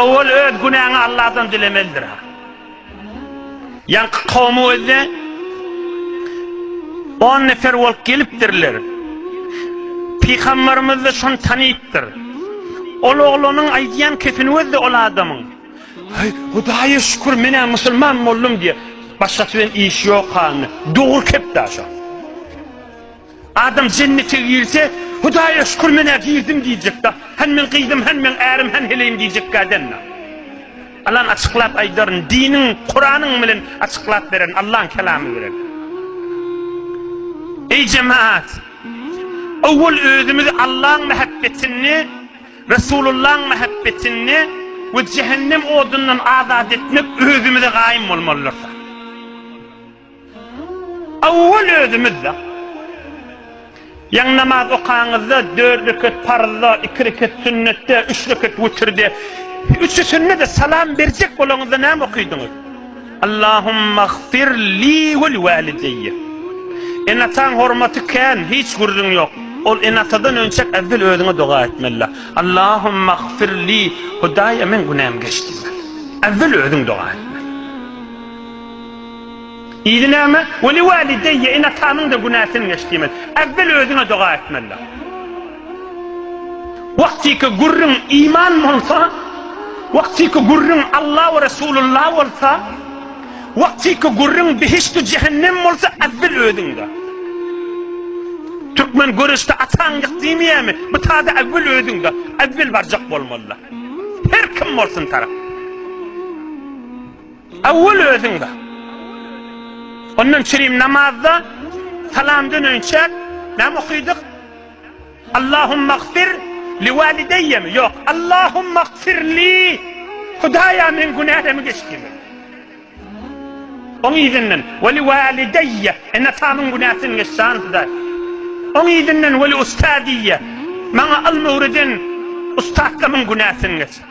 Owal öz günäňi Alladan dilemelidir. Ýaňky kowmy gözle. On nefer bolup gelipdirler. Pygamberimiz de şony tanypdyr. Ol oglanyň aýdýan kepini gözle ol adamyň. Hey, Hudaýa şükür, menä musulman boldum diýýär. Başgasy bilen işi ýok hany. Dogry kep daşa. Adam jennete girse, Hudaýa şükür men-ä girdim diýjekda. Hany meň gyzym, hany meň ärim, hany heleýim diýjekkä däl-la. Alan açyklap aýdaryn, diniň, Kuranyň bilen açyklap beren, Allaň kelamy bilen. Eý jemaat! Owwal özümizi Allaň mähebbetinde, Resulullaň mähebbetinde we jehennem odundan azat etmek özümize gaýym bolmalydyrys. Owwal özümiz-de. Ýaňy namaz okaňyzda, dört rekat parzda, iki rekat sünnetde, üç rekat wütirde, üçüsinde-de salam berjek bolaňyzda näme okydyňyz? Allahummaghfir li we walideýe. Ene-ataň hormaty kän, hiç gürrüň ýok. Ol ene-atadan önçäk äwwel özüňe doga etmeli. Allahummaghfir li, Hudaýa meň günäm geç diýmeli. Äwwel özüň doga etmeli. Idi näme? Weli walideýe ene atanyňda günäsin geç diýmeli. Äwwel özüňe doga etmelidiň. Wagtyky gürrüň iman bolsa, wagtyky gürrüň Alla we Resulullah bolsa, wagtyky gürrüň behişt-u jehennem bolsa äwwel özüňde. Türkmen göreşde ataň ýyk diýmeýärmi? Bu tada äwwel özüňde. Äwwel barjak bolmalyda. Her kim bolsun tarap. Awwal özüň bar. Ondan çirim namazda salam döneýinçäk näme okydyk? Allahummaghfir li walideýyemi? Ýok, Allahummaghfir li. Hudaýa meň günälemi geç diýmek. Oň yzyndan we li walideýye ene-atamyň günäsini geç jan Hudaý. Oň yzyndan we li ustadiýye maňa ylmy öwreden ussatlarymyň günäsini geç.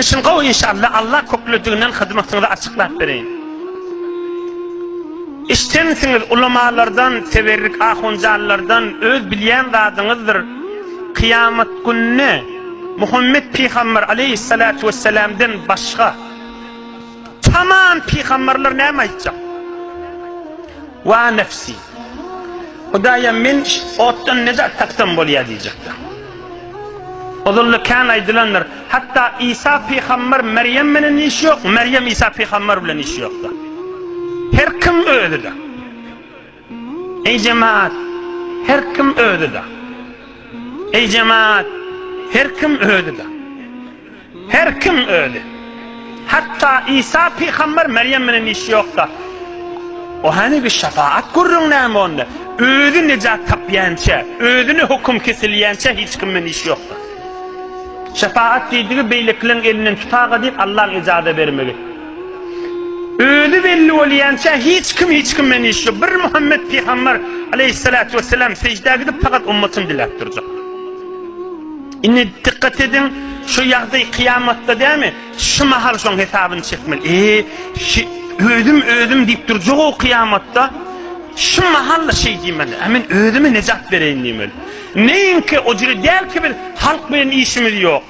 Işiň gowy inşallah Allah köklediginden hyzmatyňyzy açyklap bereýin. Işjeňsiňiz ulamalardan teberrik ahunjanlardan öz bilýän zadyňyzdyr kyýamat gününe Muhammet pygamber aleýhissalatu wessalamden başga. Tamam pygamberler näme aýtjak? Wa nefsi. Hudaýam men otdan nejat tapsam bolýar diýjekler. Ozalda kän aýdylandyr. Hatda Isa pygamber Merýem bilen iş ýok, Merýem Isa pygamber bilen iş ýokdur. Her kim özüdir. Eý jemaat, her kim özi-de. Eý jemaat, her kim özi-de. Her kim özi. Hatda Isa pygamber Merýem bilen işi ýok-da. O hanibi şepaat gürrüň näme onda? Özi nejat tapýança, özüne höküm kesilýänçä hiç kim bilen işi ýokdur. Şepaat diýdigi beýlekileriň elinden tutaga diýip Allaň ejaza bermegi. Özi belli bolýança hiç kim hiç kim bilen iş ýok. Bir Muhammet pygamber aleýhissalatu wessalam sejdä gidip fakat ummatyn diläp durjak. Indi dikkat ediň şu ýagdaý kyýamatda dämi? Şu mahal şoň hesabyny çekmeli. Eee şi özüm özüm diýip durjak o kyýamatda. Şu mahal şeý diýmeli. A men özüme nejat bereýin diýmeli. Neýinki o jüri däl ki biz halk bilen işimiz ýok.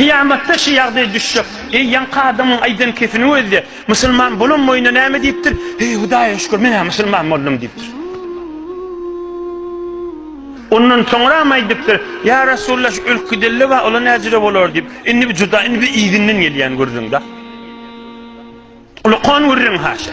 Kyýamatda şu ýagdaý düşjek. Eý, ýaňky adamyň aýdan kesiniň özi-de, Musulman bolan boýuna näme diýipdir? Heý, Hudaýa şükür, men-ä musulman boldum diýipdir. Ondan soňram aýdypdyr, Ýa Resulalla, şu ölki dille bar, ola näjüre bolar diýip. Indi bi juda, indi bi yzyndan gelýän gürrüň-dä. Ulakan gürrüň haşa.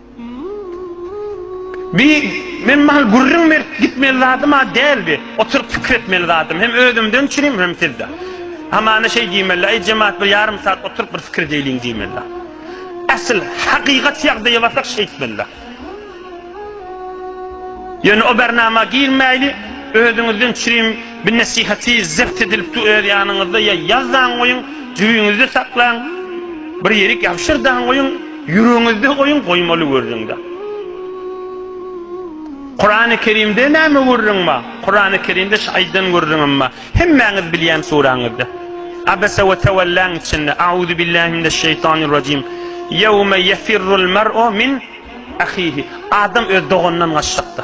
Bi, men maňa gürrüň berip gitmeli zadym-a däl bi, oturyp pikir etmeli zadym, hem özümden üçin, hem sizden. Hamana şeý diýmeli-dä, Eý, jemagat, bir ýarym sagat oturyp bir pikir edeýliň diýmeli-dä. Ähli hakykat ýagdaýa barsak şeýtmeli-dä. Ýöne o bernama girmäýli, özüňizden üçin, Bu nesihaty zebt edilip du öz ýanyňyzda ýa ýaz daň goýuň, jübiňizde saklaň, bir ýerik ýabşyr daň goýuň, ýüregiňizde goýuň, goýmaly gürrüň daň. Kurany Kerimde näme gürrüň bar? Kurany Kerimde şu aýdan gürrüňem bar. Hemmäňiz bilýän suraňyzda. Abese we tewelläň içinde Auzu billahi mineş şeýtanir rajim. Ýewme ýefirrul mer'u min ahihi. Adam öz doganyndan gaçjakda.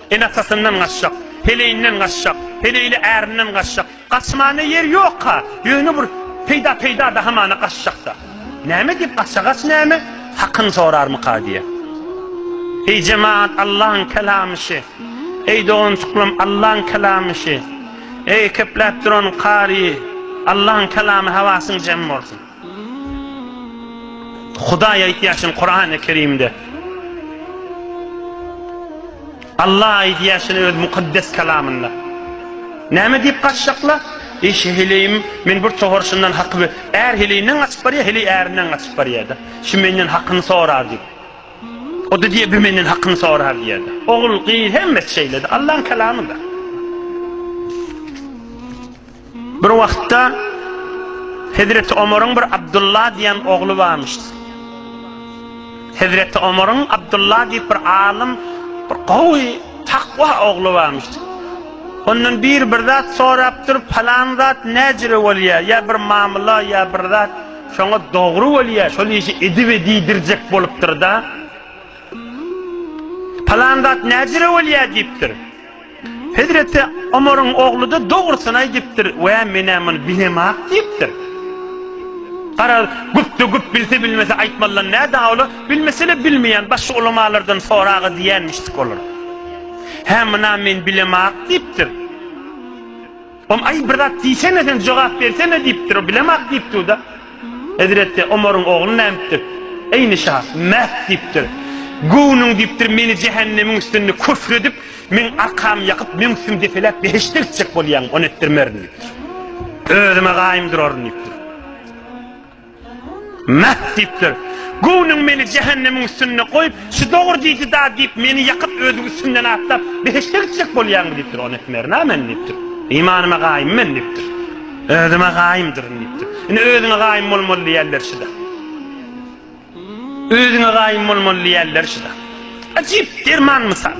Ene-atasyndan gaçjak, heleýinden gaçjak, heleýli ärinden gaçjak. Gaçmana ýer ýok-a, ýöne bir peýda-peýda-da hamana gaçjak-da. Näme diýip gaça, gaç näme? Hakyny sorarmyka diýýä. Eý jemagat, Allaň kelamy şi. Eý doganjyklarym, Allaň kelamy şi. Eý, kepläp duran kary, Allaň kelamy hawasyň jem bolsun. Hudaý aýdýaşyn Kurany Kerimde. Allah aýdýaşyn öz mukaddes kalamynda. Näme diýip gaçjakla? Eý şeheleýim, men bir tohar şundan haky bir är heleýinden gaçyp barýa, heleý ärinden gaçyp barýa-da. Şu menden hakyny sorar diýip. O da diýe, bir menden hakyny sorar diýer. Ogul, gyz hemmesi şeýle-de, Allahyň kalamyda. Bir wagtda Hezreti Omaryň bir Abdylla diýen ogly barmyş. Hezreti Omaryň Abdylla diýip bir alym, bir gowy, takwa ogly barmyş. Ondan bir bir zat sorap durup, falan zat näjire bolýar? Ýa bir mamyla, ýa bir zat şoňa dogry bolýar, şol işi edip edidirjek bolupdyr-da. Falan zat näjire bolýar diýipdir. Hezreti Omaryň ogly-da dogrusyny aýdypdyr, Wä, men-ä muny bilem-ak diýipdir. Gara, güpde güp bilse-bilmese aýtmalydan nä dawla, bilmese-le bilmeýän, başga ulamalardan sora-a diýenmişdik olar. Hä, muny-a men bilem-ak diýipdir. Om, Aý, bir zat diýsene sen, jogap bersene, diýipdir. O, Bilemok, diýipdir-de. Hezreti Omaryň ogly nädipdir? Eýni şa, Mähk, diýipdir. Göwnüň, diýipdir, meni jähennemiň üstünde küfr edip, meň arkamy ýakyp, meň üstümi depeläp, behişde gitjek bolýaňmy? Ony etdirmerin, diýipdir. Özüme gaýym duraryn, diýipdir. Mah diýipdir. Göwnüň meni jähennemiň üstünde goýup, şu dogry diýdi-da diýip, meni ýakyp, özüň üstümden atlap, behişde gitjek bolýaňmy diýipdir. Ony etmerin-ä men diýipdir. Imanyma gaýym men diýipdir. Özüme gaýymdyryn diýipdir. Indi özüňe gaýym bolmaly diýýärler şuda. Özüňe gaýym bolmaly diýýärler şuda. Ajyp derman mysal.